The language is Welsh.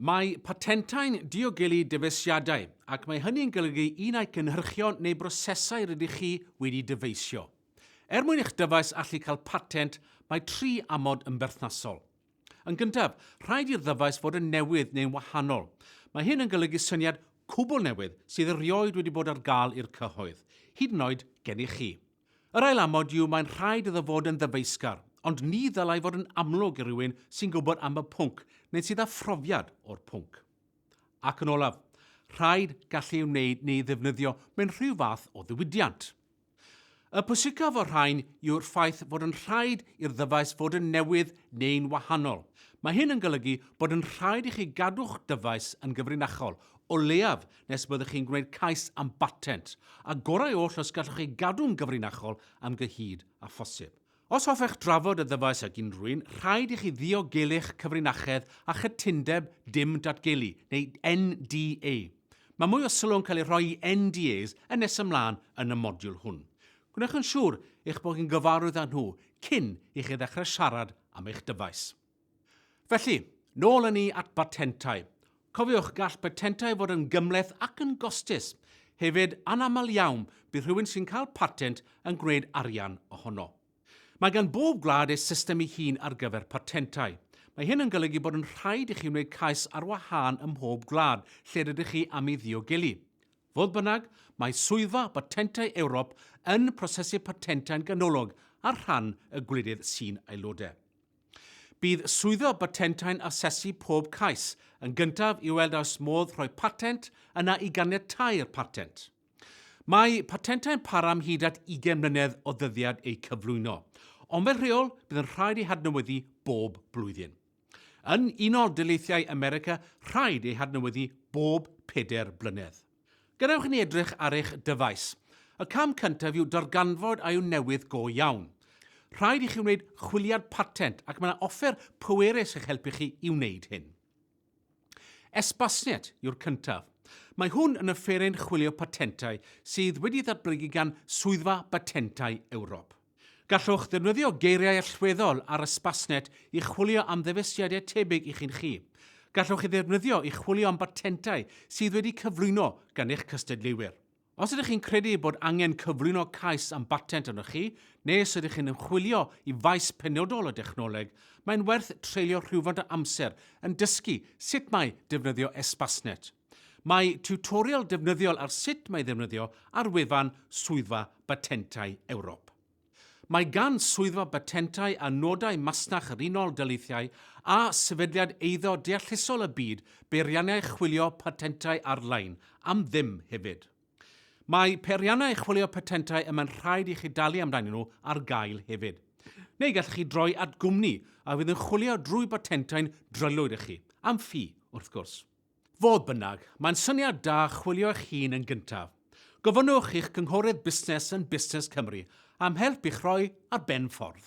Mae patentau'n diogelu dyfeisiadau, ac mae hynny'n golygu un ai cynhyrchion neu brosesau rydych chi wedi dyfeisio. Er mwyn i'ch dyfais allu cael patent, mae tri amod yn berthnasol. Yn gyntaf, rhaid i'r ddyfais fod yn newydd neu'n wahanol. Mae hyn yn golygu syniad cwbl newydd sydd erioed wedi bod ar gael i'r cyhoedd, hyd yn oed gennych chi. Yr ail amod yw mae'n rhaid iddo fod yn ddyfeisgar, ond ni ddylai fod yn amlwg i rywun sy'n gwybod am y pwnc neu sydd â phrofiad o'r pwnc. Ac yn olaf, rhaid gallu ei wneud neu ei ddefnyddio mewn rhyw fath o ddiwydiant. Y pwysicaf o'r rhain yw'r ffaith fod yn rhaid i'r ddyfais fod yn newydd neu'n wahanol. Mae hyn yn golygu bod yn rhaid i chi gadw'ch dyfais yn gyfrinachol, o leiaf nes byddwch chi'n gwneud cais am batent, a gorau oll os gallwch chi gadw'n gyfrinachol am gyhyd a phosib. Os hoffech drafod y ddyfais ag unrhyw un, rhaid i chi ddiogelu'ch cyfrinachedd a chytundeb dim datgelu, neu NDA. Mae mwy o sylw yn cael ei rhoi i NDAs yn nes ymlaen yn y modiwl hwn. Gwnewch yn siŵr eich bod chi'n gyfarwydd â nhw cyn i chi ddechrau siarad am eich dyfais. Felly, nôl yn ni at batentau. Cofiwch, gall patentau fod yn gymleth ac yn gostus. Hefyd, anaml iawn, bydd rhywun sy'n cael patent yn gwneud arian ohono. Mae gan bob gwlad ei system ei hun ar gyfer patentau. Mae hyn yn golygu bod yn rhaid i chi wneud cais ar wahân ym mhob gwlad lle rydych chi am ei ddiogelu. Fodd bynnag, mae Swyddfa Batentau Ewrop yn prosesu patentau'n ganolog ar rhan y gwledydd sy'n aelodau. Bydd Swyddfa Batentau'n asesu pob cais yn gyntaf i weld a oes modd rhoi patent yna i ganiatáu'r patent. Mae patentau'n para am hyd at 20 mlynedd o ddyddiad eu cyflwyno, ond fel rheol bydd yn rhaid eu hadnewyddu bob blwyddyn. Yn Unol Daleithiau America, rhaid eu hadnewyddu bob pedair blynedd. Gadewch i ni edrych ar eich dyfais. Y cam cyntaf yw darganfod a yw newydd go iawn. Rhaid i chi wneud chwiliad patent ac mae yna offer pwerus i'ch helpu chi i wneud hyn. Espasnet yw'r cyntaf. Mae hwn yn offeryn chwilio patentau sydd wedi ddatblygu gan Swyddfa Batentau Ewrop. Gallwch ddefnyddio geiriau allweddol ar Ysbasnet i chwilio am ddyfeisiadau tebyg i chi'n chi. Gallwch ei ddefnyddio i chwilio am batentau sydd wedi cyflwyno gan eich cystadleuwyr. Os ydych chi'n credu bod angen cyflwyno cais am batent arnoch chi, neu os ydych chi'n ymchwilio i faes penodol y dechnoleg, mae'n werth treulio rhywfaint o amser yn dysgu sut mae defnyddio Ysbasnet. Mae tiwtorial defnyddiol ar sut mae ddefnyddio ar wefan Swyddfa Batentau Ewrop. Mae gan Swyddfa Batentau a Nodau Masnach yr Unol Daleithiau a sefydliad eiddo deallusol y byd beiriannau chwilio patentau ar-lein am ddim hefyd. Mae peiriannau chwilio patentau y mae'n rhaid i chi dalu amdanyn nhw ar gael hefyd. Neu gallwch chi droi at gwmni a fydd yn chwilio drwy batentau'n drylwyr i chi, am ffi, wrth gwrs. Fodd bynnag, mae'n syniad da chwilio eich hun yn gyntaf. Gofynnwch i'ch cynghorydd busnes yn Busnes Cymru am help i'ch rhoi ar ben ffordd.